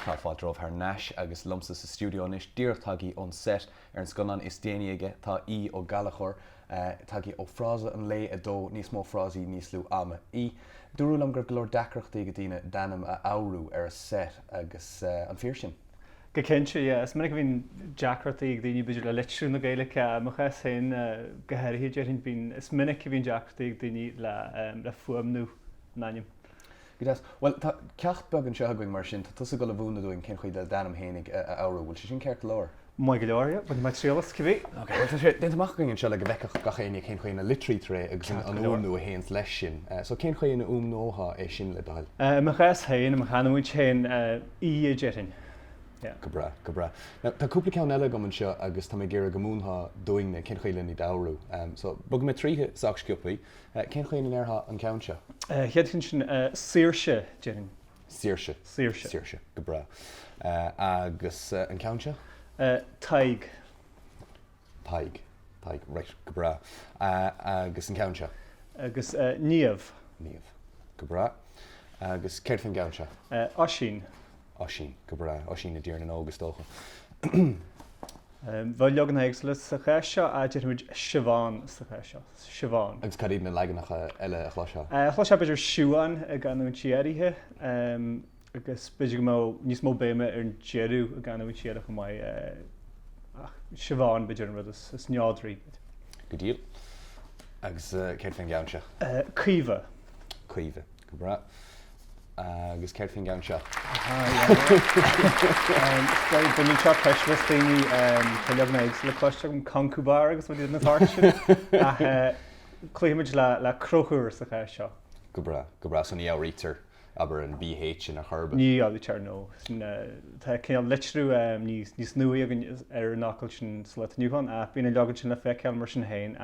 Tá fáilte romhaibh thar n-ais agus liomsa sa stiúideo anois, díreach tagthaí ón set ar an scannán is déanaí aige, tá Aodh Ó Gallchóir, tagthaí ó Frása an Lae 2, níos mó frásaí, níos lú ama. Aodh, dúradh liom go raibh go leor deacrachtaí ag daoine d'ainm a fhoghrú ar an set agus an fíor sin? Go cinnte, yeah. Is minic a bhíonn deacrachtaí ag daoine b'fhéidir le litriú na Gaeilge, i mo chás féin go háirithe déarfainn, bíonn, is minic a bhíonn deacrachtaí ag daoine le, le fuaimniú an ainm. Go deas. Bhuel, tá ceacht beag anseo againn mar sin, tá tusa ag dul a mhúineadh dúinn cén chaoi le d'ainm fhéinig a fhoghrú, bhfuil sé sin ceart go leor? Maith go leor, yeah. Bainfidh mé triail as, cibé. Ok, bhuel tá sé déanta amach againn anseo le go bhfeicfeadh gach éinne cén chaoi ina litrítear é agus an fhuaimniú a théanns leis sin. So, cén chaoi ina fhuaimneofá é sin le do thoil? I mo chás féin, i mo chanúint féin. Aodh a déarfainn. Aodh. Go breá, go breá. Now, tá cúpla ceann eile agam anseo agus tá mé ag iarraidh go múinfeá dúinne cén chaoi len iad a fhoghrú. Em, so, bogfaidh mé tríothu sách sciopthaí. Eh, cén chaoi ina ndéarfá an ceann seo? Eh, chéad cheann sin, eh, Saoirse, déarfainn. Saoirse. Saoirse. Saoirse. Go breá. Eh, agus, eh, an ceann seo? Eh, Tadhg. Tadhg. Tadhg, Raight, go breá. Agus an ceann seo? Agus Niamh. Niamh, Go breá. Agus céard faoin gceann seo? Oisín. Oisín, Go breá. Oisín i dTír na nÓg, is dócha. Bheadh leagan éagsúla sa chás seo, ach déarfaimid Siobhán sa chás seo. Siobhán. Agus cad iad na leaganacha eile a chloisfeá? Chloisfeá b'fhéidir Siúan i gcanúintí áirithe. agus b'fhéidir go mbeadh níos mó béime ar an deireadh i gcanúint Chiarraí chomh maith, ach Siobhán, b'fhéidir, an rud is neodraí. Go diail. Agus céard faoin gceann seo? Caoimhe. Caoimhe. Go breá. Agus céard faoin gceann seo? Baineann seo ceist le daoine, tá leagan éagsúla cloiste agam, Concubhar agus rudaí den tsórt sin, ach cloífimid le Crochúr sa chás seo. Go breá, go breá. So ní fhoghraítear? abair, an bh in aon chor. Ní fhoghraítear, no. Tá cineál litriú níos nuaí againn ar an fhocal sin sa lá atá inniu ann, ach bíonn an leagan sin le feiceáil mar sin féin,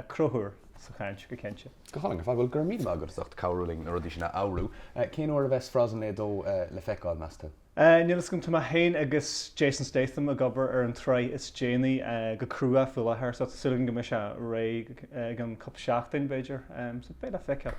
Crochúr, sa chaint, go cinnte. Go hálainn, ar fad. Bhuel, go raibh míle maith agat as ucht cabhrú linn na rudaí sin a fhoghrú. Cén uair a bheas Frása an Lae 2 le feiceáil, meas tú? Níl fhios agam, tá mé féin agus Jason Statham ag obair ar an tsraith is déanaí go crua faoi láthair, so tá súil againn go mbeidh sé réidh i gceann cúpla seachtain, b'fhéidir, so beidh le feiceáil.